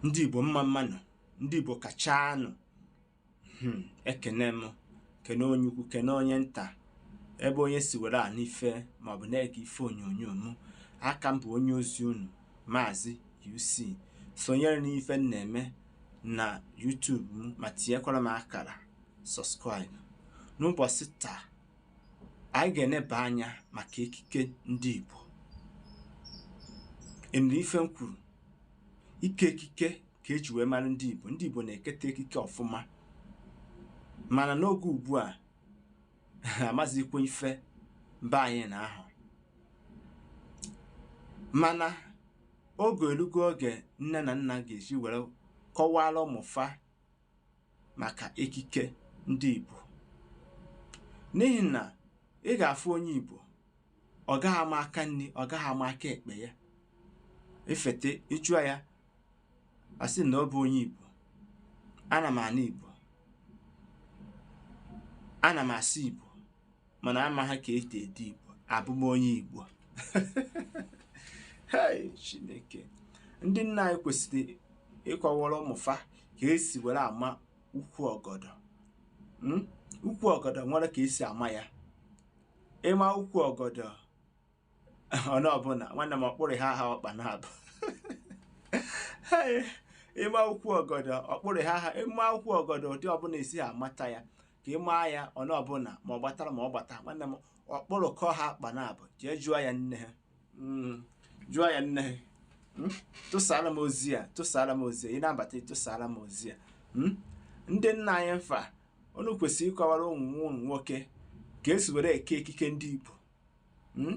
ndị igbo mma mmanụ ndị igbo kachanụ hmm, ekene m kene onye ukwu kene onye nta ebe onye si were anụ ife maọbụ na-ege ife onyonyo m aka m bụ onye ozi unu maazị UC sonyere n'ife m na-eme na YouTube m ma tinyekwara m akara subscribe n'ụbọsị taa anyị ga-eneba anya maka ekike ndị Igbo enwere ife m kwuru ike ekike ka eji wee mara ndị Igbo ndị Igbo na-eketa ekike ọfụma mana n'oge ugbu a amazikwa ife mba anyị na-ahụ mana oge elugo oge nne na nna ga-eji were kọwara ụmụfa maka ekike ndị Igbo n'ihi na ị ga-afụ onye Igbo ọ gaghị ama aka nni ọ gaghị ama aka ekpe ya efete ị jụọ ya asị na ọ bụ onye Igbo ana m anụ Igbo ana m asụ Igbo mana amaha ka esi ede igbo abụ m onye igbo hei chineke ndị nna anyị kwesịrị ịkọwara ụmụfa ka esi were ama ukwu ọgọdọ hmm? ukwu ọgọdọ nwere ka esi ama ya ịma ukwu ọgọdọ ọnụ ọbụna nwanne m ọkpụrụ ha ha ọkpa na-abụ ịma ukwu ọgọdọ ọkpụrụ ha ha ịma ukwu ọgọdọ ụdị ọbụna isi ha amata ya ka ị maa ya ọnụ ọbụna ma ọ gbatara ma ọ gbata nwanne m ọkpụrụ kọ ha akpa na-abụ jee jụọ ya nne ha hmm, jụọ ya nne ha hmm, tụsara m ozi ya tụsara m ozi ya ị na-abata tụsara m ozi ya hmm, ndị nna anyị mfa unu kwesịrị ịkọwara ụmụ nwoke ka esi were eke ekike ndị Igbo hmm?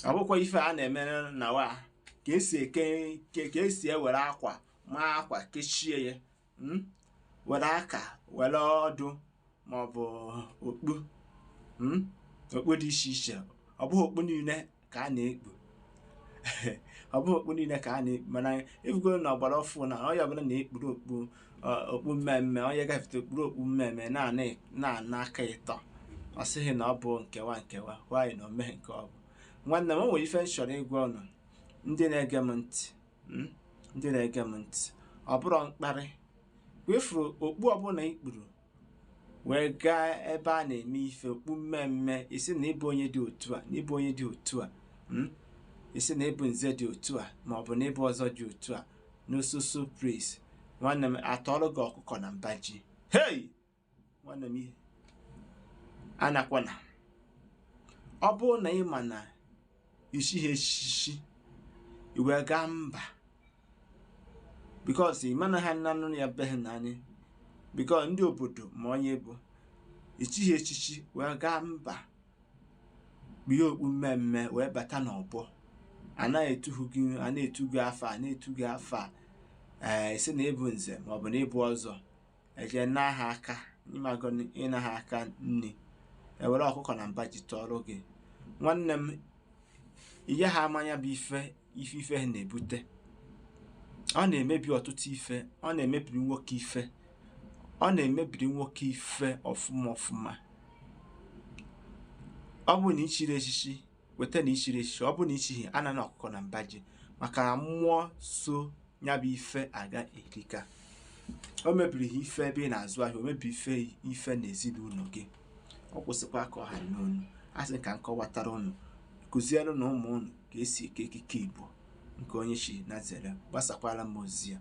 ọ bụkwa ife a na-emere na wa ka esi eke ka esi ewere akwa maa akwa kechie ya hmm? were aka were ọdụ maọbụ okpu hmm? okpu dị iche iche ọ bụghị okpu niile ka a na-ekpu ọ bụghị okpu niile ka a na-ekpu mana ebugo na ọ gbara ọfụ na onye ọbụla na-ekpuru okpu Ọ- okpu mme mme onye gafete o kpuru okpu mme mme na-ana aka ịtọ ọ sị gị na ọ bụ nkewa nkewa nwaanyị na omeghe nke ọ bụ nwanne m o nwere ife m chọrọ ịgwa ụnụ ndị na-ege m ntị mm, ndị na-ege m ntị ọ bụrụ mkparị wefuru okpu ọbụna i kpuru wee gaa ebe a na-eme ife okpu mmee mmee ị sị na ị bụ onye dị otu a na ị bụ onye dị otu a hmm? ị sị na ị bụ nze dị otu a ma ọ bụ na ị bụ ọzọ dị otu a n'osusu prince nwanne m a tọọlụ gị ọkụkọ na mba ji hei nwanne m anakwana ọ bụrụ na ị ma na i chighị echichi i wee gaa mba because ị ma na ha nanụ ya be gị na anyị because ndị obodo ma onye ị bụ i chighị echichi wee gaa mba kpie okpu mmee mmee wee bata n'ọgbọ a na-etu gị a na-etu gị afa a na-etu gị afa ee ị sị na ị bụ nze ma ọ bụ na ị bụ ọzọ e je naa gị aka ị mago naa gị aka nri e were ọkụkọ na mba ji tọọrọ gị nwanne m ị yaha ama nya bụ ife ife ife ha na-ebute ọ na-emebi ọtụtụ ife ọ na-emebiri nwoke ife ọ na-emebiri nwoke ife ọfụma ọfụma ọ bụrụ na i chiri echichi kweta na i chiri echichi ọ bụrụ na i chighị anana ọkụkọ na mba ji maka na mmụọ so ya bụ ife aga erika o mebiri gị ife ebe ị na-azụ ahịa o mebiri ife ife na ezinụlọ gị okwu sịkwa ka ọ ha n'ọnụ a sị ka m kọwatara ụnụ kuziere nụ ụmụ ụnụ ka e si eke ekike Igbo nke onye chi na-azere gbasakwara m ozi a